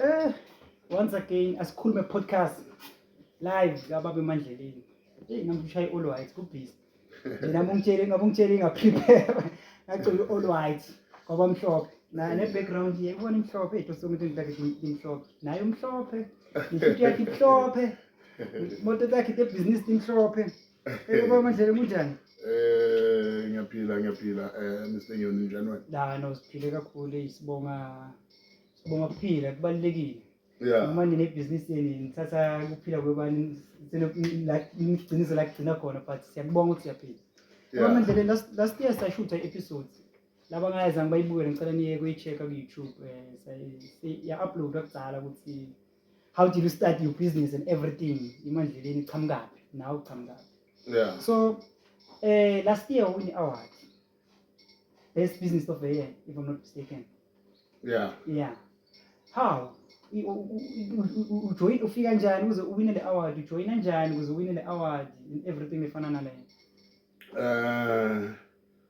Eh, once again asikhulume podcast live kababa emandleleni. Hey namshaya all white kubhizi. Mina mungitshele ngabe ungitshele nga prepare. Ngacela all white kwaba mhlophe. Na ne background ye ubona imhlophe into somuntu ngidake imhlophe. Naye umhlophe. Into yakhe imhlophe. Moto yakhe te business imhlophe. Hey baba Mandlela kunjani? Eh ngiyaphila ngiyaphila eh Mr Nyoni njani wena? La no siphile kakhulu hey sibonga sibonga kuphila kubalekile. Yeah. Uma nine business yenu nithatha kuphila kwebani nigciniso la kugcina khona but siyakubonga ukuthi siyaphila. Baba Mandlela last last year sashutha episode laba ngayezange bayibukele ngicela niye kuyi-check-a ku-youtube um eh, ya-uploada kudala ukuthi how did you start your business and everything imandleleni iqhamukaphi nawe uqhamukaphi yeah so eh last year win award best business of the year if i'm not mistaken yeah yeah how ujoyina ufika njani ukuze uwine le award ujoyina njani ukuze uwine le award and everything efana naleyo um uh...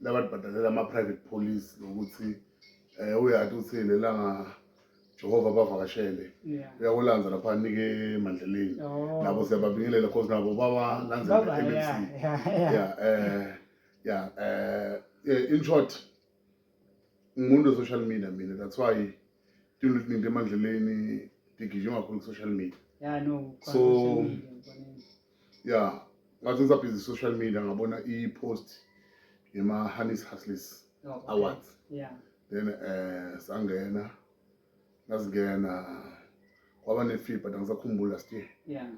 labantu bhadalela ama-private police nokuthi um eh, uyati ukuthi lelanga Jehova bavakashele uyakulanza lapha anike emandleleni oh. nabo siyababingelela cause nabo bawalanzela e-mc ya um ya um in short ngimuntu we-social media mina that's why tinto letiningi emandleleni tigijima kakhulu ku-social media so ya ngaze ngisabhizi social media ngabona i-post yema-honey's hustles oh, awards then um sangena ngazingena kwaba ne-fee but angisakhumbuli last year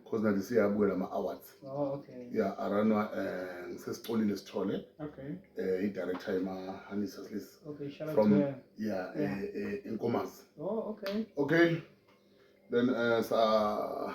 because nathi siyabukela ama-awards oh, ya aranwa um eh, ngisesicolile sithole um eh, i-director yema-honey's hustles from ya enkomazi oh, okay then um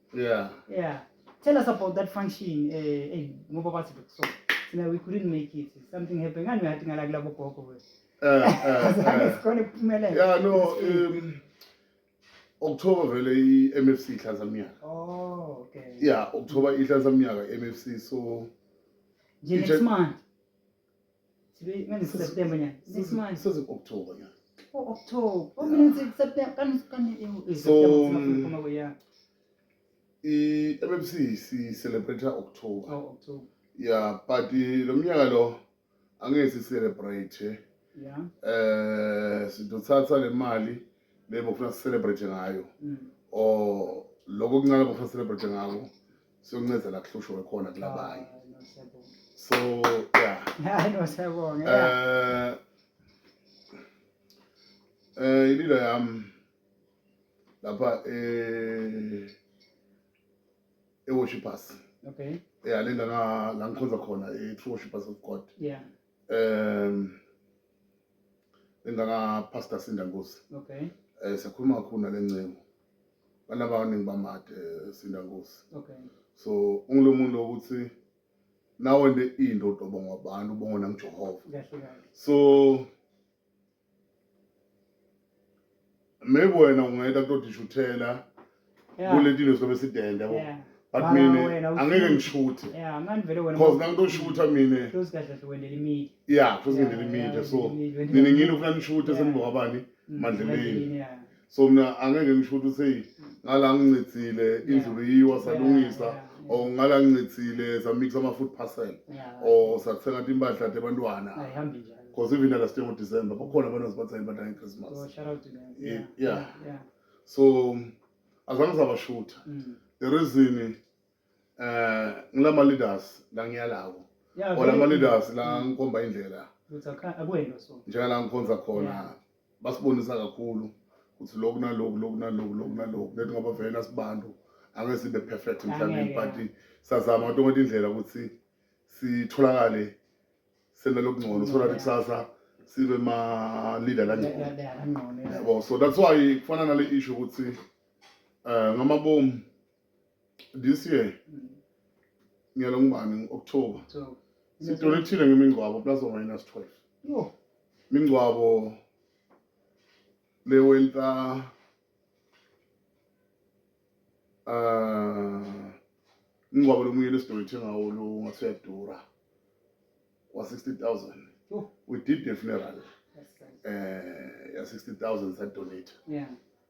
Yeah. Yeah. Tell us about that function. Eh, eh, ngoba bathi so. Sina we couldn't make it. Something happened. Ngani ngathi ngala kulabo gogo we. Eh, eh, Zange eh. sikhona ukuphumelela. Yeah, no, um, October vele i-MFC ihlanza mnyaka. Oh, okay. Yeah, October ihlanza mnyaka i-MFC so Nje Itshe- next month. Sibili manje September nyaka. Six months. Sese October nyaka. Oh October. Oh mina ngithi September kan kan eh So, September mm, sikhuluma ko ya. I MMC si celebrate October. Oh October. Yeah, but eh, lo mnyaka lo angeke si celebrate. eh. Yeah. Eh sidothatha le mali lebo kufuna si celebrate ngayo. Mm. Or lokho kuncane bofuna celebrate ngako. siyoncezela kuhlushwe khona kulabanye so yeah hayi no siyabonga eh eh ililo yam lapha eh eworshipers okay yeah le ndana la ngikhonza khona i-true worshipers of god yeah um le ndana pastor sindangosi okay um siyakhuluma kakhulu nale ncengo banabaningi bamade eh, sinda nkosi okay so ungulo muntu ukuthi nawe nde into udobonga abantu ubonga nangijehova so maybe wena ungayita kutodishuthela kule nto inesobe sidende yabo but mina angeke ngishuthe because nangitoshutha mina ya futhi ngendela imide so nina ngini ufuna nishuthe senibokabani mandleleni so mina angeke ngisho ukuthi seyi ngala ngincithile indlulu yiwa salungisa or ngala ngincithile samixa ama-food parcel or sathenga ti impahla tebantwana because even nala sithe ngodecember bakhona abantu azibathenga impahla ngechristmas yeah so azange sabashutha mm. the reason eh ngilama leaders la ngiyalawo Yeah, or lama very- leaders la ngikhomba indlela Ukuthi akha- akuwena so. njengala ngikhonza khona Yeah. basibonisa kakhulu ukuthi lokhu nalokhu lokhu nalokhu lokhu nalokhu lethi ngoba vele nasibantu angeke sibe perfect mhlawumbe Angeke. but sazama kodwa ukuthi indlela ukuthi sitholakale sena lokungcono so that Yeah. kusasa sibe ma leader La- la- kangcono la- kangcono, yeah. yabo so that's why kufana nale issue ukuthi eh ngamabomu this year mm. ngiyalo ngubani ngo-october sitolo ethile ngemingcwabo plus or minus 12 no mingcwabo le wenta uh ah, ingcwabo lomunye lesitolo ethe ngawo lo ngathi uyadura wa-60000 we did the funeral um eh, ya-60000 sadonate yeah.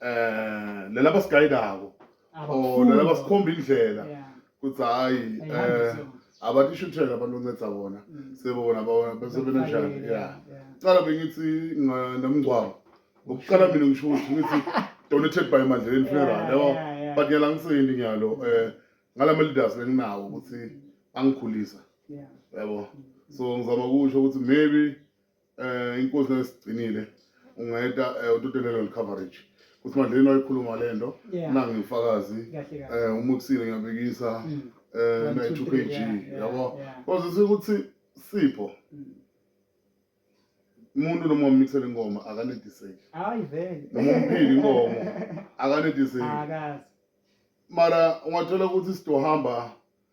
eh lena basigayidako or lena basikhomba indlela kuthi hayi eh abatishutshela abantu onceda bona mm. sebona bona besebenza njani ya cala bengithi nomngcwabo ngokuqala mina ngisho ukuthi ngithi donated by mandleleni funeral yabo but ngiyala ngiseyini ngiyalo um eh, ngala ma-leaders benginawo ukuthi angikhulisa yabo so ngizama ukusho ukuthi maybe eh inkosi nesigcinile ungayeta eh, utotelelo le coverage kuthi madleni wayikhuluma le nto Yeah. nange ngifakazi Kahle kahle. eh umukusile ngiyabekisa Mm. eh One, na two, 2 three, kg yeah, yeah, yabo yeah. kwazisa ukuthi sipho Mm. umuntu noma umixele ingoma akanediseki Hayi vele. noma umphile inkomo akanediseki Akazi. mara ungathola ukuthi sidohamba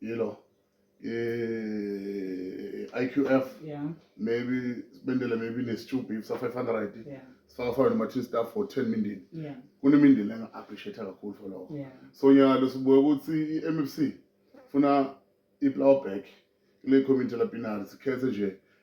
you know eh, IQF yeah maybe sibendele maybe nesitube if sa 500 yeah sifaka fana noma two staff for 10 mindini yeah kunemindeni enga appreciate kakhulu for lokho yeah so nyaka lesibuye ukuthi iMFC funa iflower back kule community lapinari sikhethe nje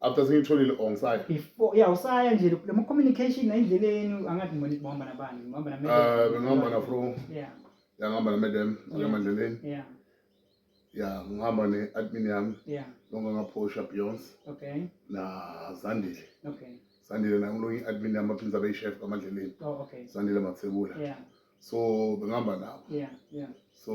after sengitholile or ngisaya before ya usaya nje le mo communication endleleni angathi ngibona ngihamba nabani ngihamba na eh ngihamba na fro yeah ya ngihamba na madam ngihamba endleleni yeah ya ngihamba ne admin yami yeah longa ngaphosha beyond okay na zandile okay sandile naye umlungu i-admin yami baphinza beyishef kwamadleleni oh, okay. sandile mathebula yeah. so bengihamba nabo yeah, yeah. so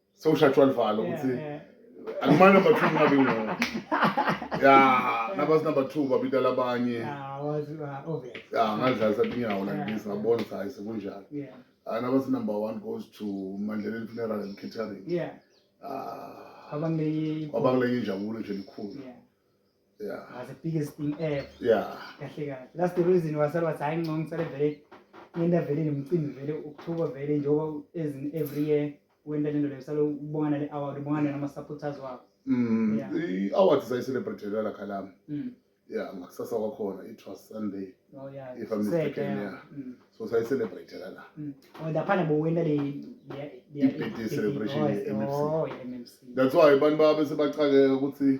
sewushatshwa livalo ukuthi Yeah, yeah. akumane number two kungabi ngona ya nabazi number two babita labanye Yeah, I was uh, obvious. ya ngadlalisa tinyawo like this ngabona ukuthi hayi sekunjalo Yeah, hayi nabazi number one goes to mandleleni funeral and catering yeah. Ah, Abangeke- kwabakuleke injabulo nje elikhulu Yeah. yeah was the biggest thing ever yeah kahle kahle that's the reason wasala wathi hayi ngcono ngisale vele ngenda vele nomcimbi vele ukuthuka vele njengoba as in every year wenda lento leyo salo ubonga nale award ubonga nale ama supporters wakho mm Yeah. i award sayi celebrate la khalami mm yeah ngakusasa kwakhona it was sunday oh yeah If I'm Seke, mistaken, yeah. mm so sayi celebrate la mm oh laphana bowenda le le- le- Ibhedi le- celebration oh, ye- MMC. oh ye- MMC that's why abantu babe sebachakeka ukuthi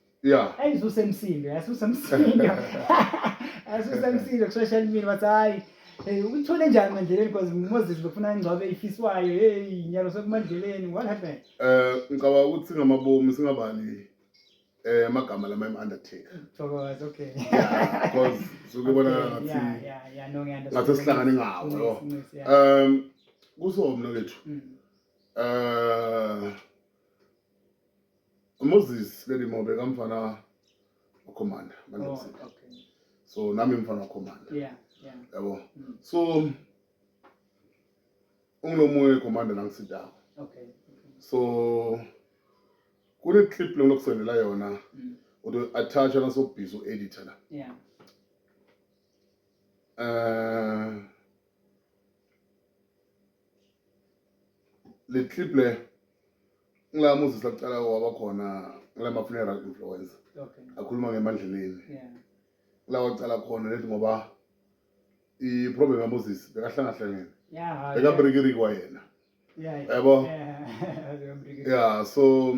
Yeah. Hey usemsindo, yasusemsindo. Yasusemsindo kusheshe elimini bathi hayi Hey uthole njani mandleleni because Moses befuna ingcwabe ifiswayo. Hey nyalo sekumandleleni what happened? Eh ngicabanga ukuthi ngamabomu singabani eh amagama lama im undertaker. Thokoza okay. Yeah because suke bona ngathi. Yeah yeah yeah no ngiyandazi. Ngathi sihlangane ngawo yo. Um kusomna kethu. Mm. Eh uMoses leli mobe kamfana ukhomanda oh, so nami mfana ukhomanda yeah yeah yabo mm. so ungilomunye ukhomanda nangisidako okay so kune clip lengilokusendela yona mm. uto attach na so busy editor la yeah uh le clip le ngila muzisa kuqala waba khona ngila ma funeral influencer okay akhuluma ngemandleleni yeah ngila waqala khona lethi ngoba i problem ya Moses bekahlangahlangene yeah bekabrikirikwa yena yeah yabo yeah so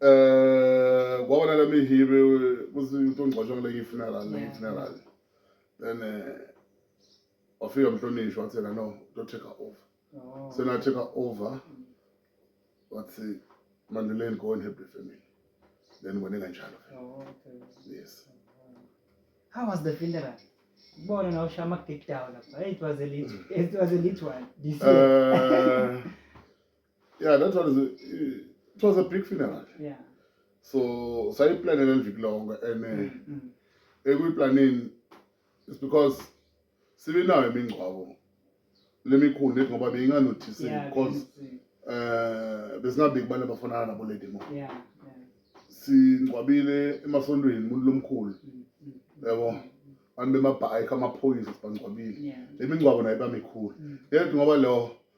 eh kwabona lami hibe kuzinto ngcwatshwa kule funeral le funeral then eh wafika mhlonishwa wathi yena no to take over oh. so na take over wathi manduleni go and help the family then ngone kanjalo oh, okay yes how was the funeral bona na usha ama kick down lapha it was a little it was a little one this year uh, yeah that one is a, it was a big funeral yeah so sayiplanela liviki lonke and eh, mm, mm. ekuyiplanini is because sibe nayo imingcwabo lemikhulu lethi ngoba beyinganothisi yeah, because eh besingabiki abantu abafanana nabo lady mo yeah, yeah. singcwabile emasontweni umuntu lomkhulu mm, mm, mm. yabo mm, mm. abantu bemabhayikhi amaphoyisa sibangcwabile yeah. le mingcwabo nayo iba mikhulu mm. yedwa ngoba lo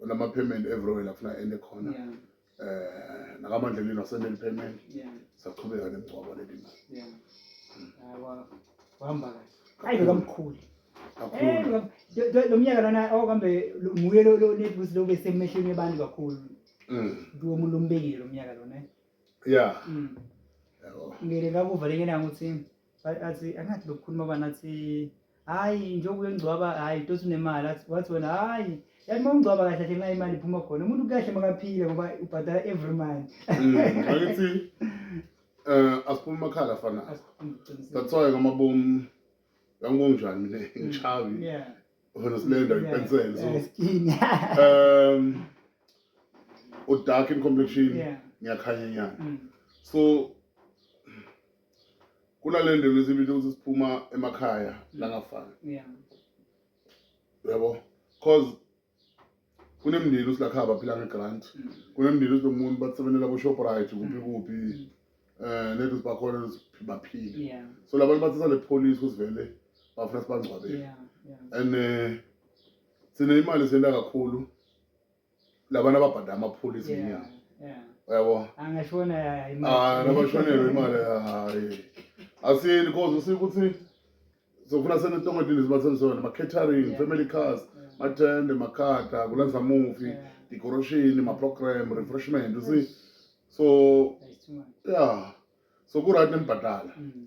unama payment everywhere la funa ende khona yeah. eh nakamanje lino sendele payment yeah. saqhubeka nemgcwabo leli mali yeah. awa wahamba kahle hayi kamkhulu kakhulu eh, lo mnyaka lana okambe oh, nguye lo lo netbusi lo besemehlweni abantu kakhulu mm kuwo umuntu ombekile lo mnyaka lona eh? yeah mm ngeke kakuvaleke nangu ukuthi athi angathi lokukhuluma bani athi hayi njengoba uyongcwaba hayi tosi unemali athi wathi wena hayi yathi uma ungcwaba kahle kahle nxa imali iphuma khona umuntu kahle makaphile ngoba ubhadala every month Mm, angithi eh asiphuma amakhala afana Asiqinisile. that's why ngamabomu yangonjani mina ngichawi Yeah. khona silenda Yeah. ipensel so Yeah, skin. um udark in complexion Yeah. ngiyakhanya nyana Mm. so kunale ndlela esibili ukuthi siphuma emakhaya langafani yeah yabo cause kunemndeni usilakhaba aphila ngegrant mm. kunemndeni usilomuntu basebenela kushoprite kuphi mm. kuphi um eh, nethi sibakhona baphile yeah so labantu bathi sale police kusivele bafuna sibangcwabele yeah yeah and um sine imali senda kakhulu labantu ababhada amaphula izinyanga yabo nabashonelwe imali hayi asiyeni cause usike ukuthi sokufuna senetongedini zibathenzisona ma-catering family cars matende makhada kulenza mufi decoration ma-program refreshment usi so ya so ku-right nembhadala mm.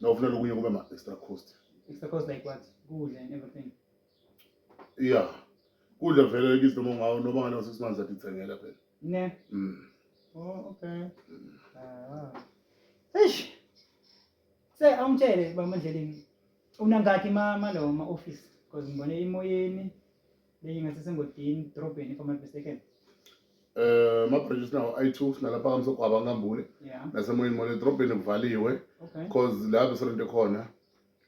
na ufuna lokunye kube ma extra cost extra cost like what kudla and everything yeah kudla vele kithi noma ngawo noma ngane six months athi thengela phela ne mm oh okay mm. ah eish se awumtshele bamandleleni unangaki mama lo ma office because ngibone imoyeni leyi nga sesengotini dorobheni if I'm not mistaken eh mabridges nawo ayi-two sinalapha kamsogwaba ngambule yeah nasemoyeni mona edorobheni kuvaliwe okay cause la besolento khona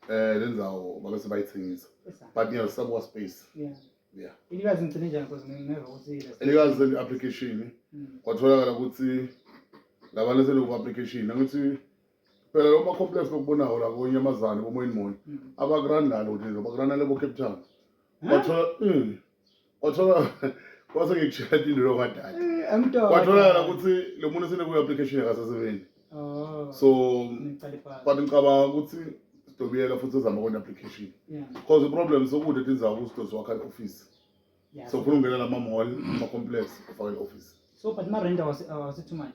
eh le ndawo babe sebayithengisa Esa. but ngiyalisabuka space yeah yeah ilikazi ngigcine njani because ngingeva ukuthi ile- elikazi seli-application Mm. kwatholakala ukuthi labantu seloku-application angithi phela lo macomplex lokubonawo la konyamazane komoyeni munye abakurandalo ukuthi nje bakurandale bo-cape town wathola mm, wathola kwase ngikushela indilo kadade Eh, amdoda. kwatholakala ukuthi lo muntu senekuyi-application yakasesebenzi Oh. so Ngicela ipasi. but ngicabanga ukuthi sidobiyela futhi ezama kona application Yeah, because iproblem sokude tinzawo kusidosi wakha i-office yeah. so ufuna ungena lama-mall ama-complex ufake i-office So but ma rent was uh, was it too much?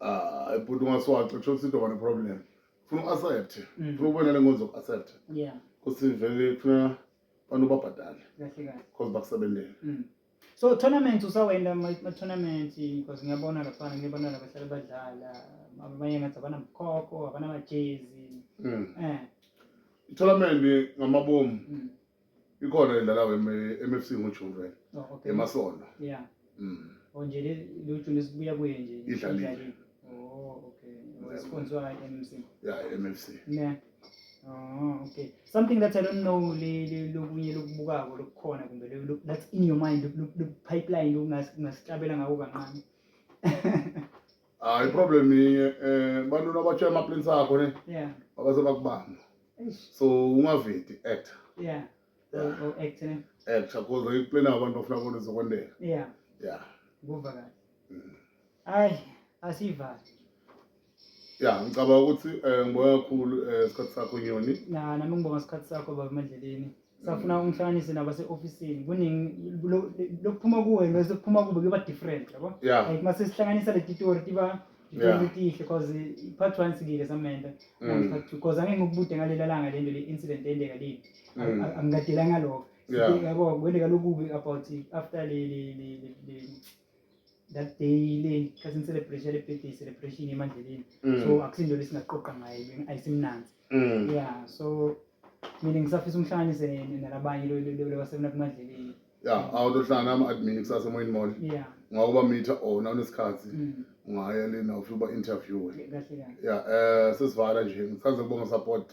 ah ibhuti ungaswaxa kusho ukuthi intoba neproblem funa u-accept mm. funa ukubona le ngozi zoku-accept kuthi vele funa abantu babhadale because bakusebenzele mm. so tournament usawenda ma-tournament because ngiyabona lafana ngiyabona labahlale badlala abanye ngathi abanamkhokho abanamajezi um mm. eh. itournament ngamabomu ikhona edlala we-mfc ngojuni vele oh, okay. emasondo yeah. mm. Oh, nje lejuni sibuya kuye nje idlalile oh, okay. sponsor i-mfc yeah, i-mfc yeah. Oh, okay. Something that I don't know lokunye lokubukako lokukhona kumbe that's in your mind pipeline lokungasicabela ngako kancane. hayi iproblem inye um bantwini abatsho amaplins akho ne yeah abaze bakubamba eish so ungavedi actor yeah Yeah. o o act ne actor cause iplin abantu bafuna bona izokwendela yeah ya kuva kahle Mm. hayi asivali ya ngicabanga ukuthi um ngiboya kakhulu um isikhathi sakho nyoni na nami ngibonga isikhathi sakho baba emandleleni safuna ungihlanganise nabase-ofisini kuningi lokuphuma kuwe nokuphuma kube kuba different yabo yeah. like uma sesihlanganisa le titori tiba tihle cause part one sikile samenda mm. part two cause angeke ngikubude ngalela langa le nto le incident eyendeka leli mm. angikadela ngalokho yabo kwendeka lokubi about after le that day le cousin celebration le birthday celebration emandleleni mm. so akusinto lesingaqoqa ngayo ayisimnanzi mm. yeah so mina ngisafisa umhlanganise nalabanye lobasebena kumadleleni ya awutohlangana ama-admin kusasa emoyeni mall ngokuba mitha ona unesikhathi mm. ungaya lena ufike uba-interviewe ya um sesivara nje ngithanda ukubonga support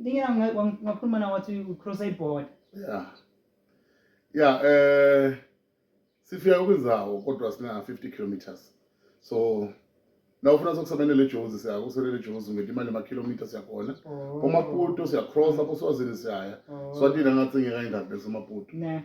Ngiya ngakhuluma na wathi ucross iboard. Yeah. Yeah, eh sifika kwinzawo kodwa sina 50 kilometers. So na ufuna sokusebenza le Jozi siya kusebenza le Jozi ngeti imali ma kilometers yakhona. Oh. Uma kuto siya cross lapho swazini siya. Oh. Swatini ngathi ngeke indawo bese maputo. Ne.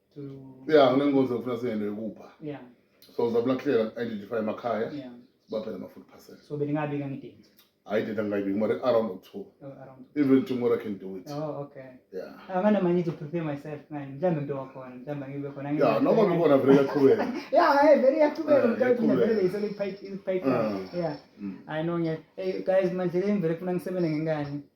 to ya nginenkonzo ngifuna siyende yokupha yeah so ngizabula kuhlela identify emakhaya yeah baphela ama food parcel so beningabika ngidingi hayi data ngingayibiki mara around or two oh, around even tomorrow i can do it oh okay yeah angana ah, manje to prepare myself man mhlambe ngibe khona mhlambe ngibe khona yeah noma ngikhona vele yaqhubeka yeah hey very yaqhubeka mhlambe ngivele isele pipe pipe yeah i know yeah hey guys manje le ngivele kufuna ngisebenze ngengane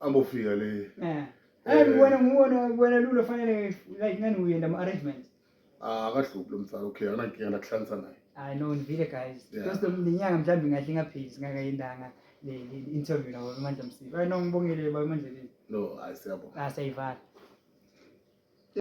Ambofika le. Eh. Eh ngibona ngibona ngibona lulo fanele like ngani uyenda ama arrangements. Ah akahluphi lo mfana okay anankinga ndakuhlanisa naye. I know ngivile guys. Just lenyanga mhlawumbe ngahle ngaphezi ngakayendanga le interview nawo Mandla Msibi. I know ngibongile baba Mandla. No, ayisiyabona. Ah sayivala.